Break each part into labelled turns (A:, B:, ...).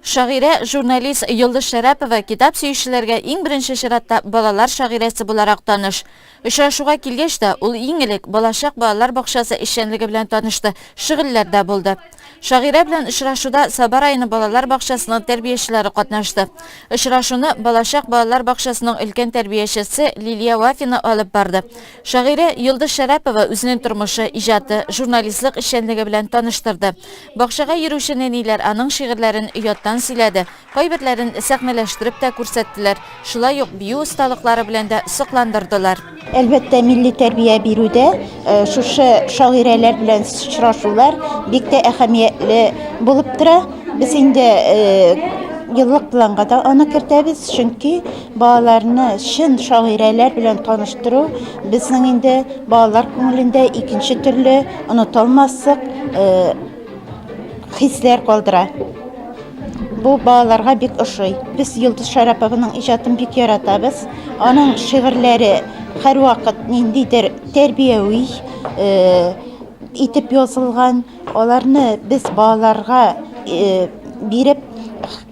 A: Шагыйрә, журналист Йолдыз Шәрәпова китап сөючеләргә иң беренче чиратта балалар шагыйрәсе буларак таныш. Очрашуга килгәч тә, ул иң элек Балачак балалар бакчасы эшчәнлеге белән танышты, шөгыльләрдә булды. Шагыйрә белән очрашуда Саба районы балалар бакчасының тәрбиячеләре катнашты. Очрашуны Балачак балалар бакчасының өлкән тәрбиячесе Лилия Вафина алып барды. Шагыйрә Йолдыз Шәрәпова үзенең тормышы, иҗаты, журналистлык эшчәнлеге белән таныштырды. Бакчага йөрүче нәниләр аның шигырьләрен ояттан сөйләде, кайберләрен сәхнәләштереп тә күрсәттеләр, шулай ук бию осталыклары белән дә сокландырдылар. Әлбәттә, милли
B: тәрбия бирүдә шушы шагыйрәләр белән очрашулар бик тә әһәмиятле булып тора. Без инде еллык планга да аны кертәбез, чөнки Балаларны чын шагыйрәләр белән таныштыру безнең инде балалар күңелендә икенче төрле онытылмаслык хисләр калдыра. Бу балаларга бик ошый. Без Йолдыз Шәрапованың иҗатын бик яратабыз. Аның шигырьләре һәрвакыт ниндидер тәрбияви итеп язылган. Аларны без балаларга биреп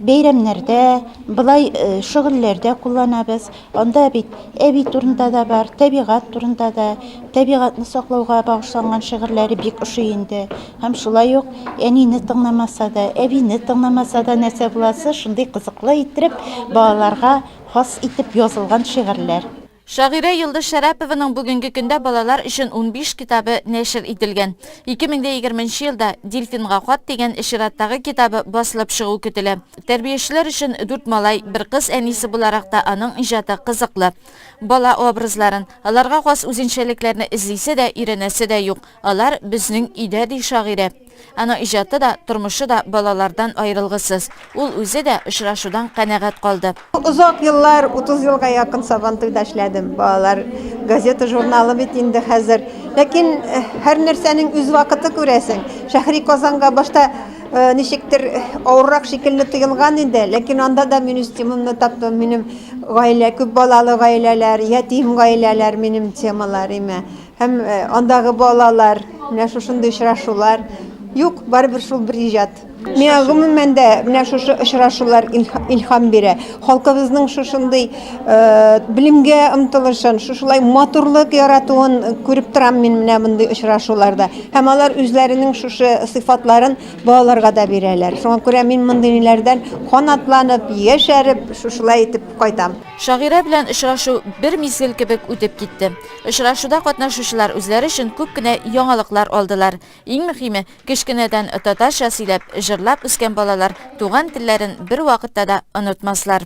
B: бәйрәмнәрдә, Болай шөгыльләрдә кулланабыз. Анда бит әби турында да бар, тәбигать турында да, тәбигатьне саклауга багышланган шигырьләре бик ошый инде. Һәм шулай ук әнине тыңламаса да, әбине тыңламаса да нәрсә буласы, шундый кызыклы иттереп балаларга хас итеп язылган шигырьләр. Шагыйрә Йолдыз
A: Шәрәпованың бүгенге көндә балалар өчен унбиш китабы нәшер ителгән. Ике мең дә егерменче елда Дельфинга хат дигән чираттагы китабы басылып чыгу көтелә. Тәрбиячеләр өчен дүрт малай, бер кыз әнисе буларак та аның иҗаты кызыклы. Бала образларын, аларга хас үзенчәлекләрне эзлисе дә, өйрәнәсе дә юк. Алар, безнең өйдә, ди шагыйрә. Аның иҗаты да, тормышы да балалардан аерылгысыз. Ул үзе дә очрашудан канәгать калды. Озак еллар,
C: 30 елга якын Сабантуйда эшләдем. Балалар газета-журналы бит инде хәзер. Ләкин һәрнәрсәнең үз вакыты, күрәсең. Шәһри Казанга башта ничектер авыррак шикелле тоелган иде, ләкин анда да мин үз темамны таптым. Минем гаилә, күп балалы гаиләләр, ятим гаиләләр минем темалар име. Һәм андагы балалар, менә шушындый очрашулар. Юк, барыбер шул бер иҗат. Миңа гомумән дә менә шушы очрашулар илһам бирә. Халкыбызның шушындый белемгә омтылышын, шушылай матурлык яратуын күреп торам мин менә мондый очрашуларда. Һәм алар үзләренең шушы сыйфатларын балаларга да бирәләр. Шуңа күрә мин мондыйлардан канатланып, яшәреп, шушылай итеп кайтам. Шагыйрә белән
A: очрашу бер мизгел кебек үтеп китте. Очрашуда катнашучылар үзләре өчен күп кенә яңалыклар алдылар. Иң мөхиме, кечкенәдән татарча сөйләп, җырлап үскән балалар туган телләрен бервакытта да онытмаслар.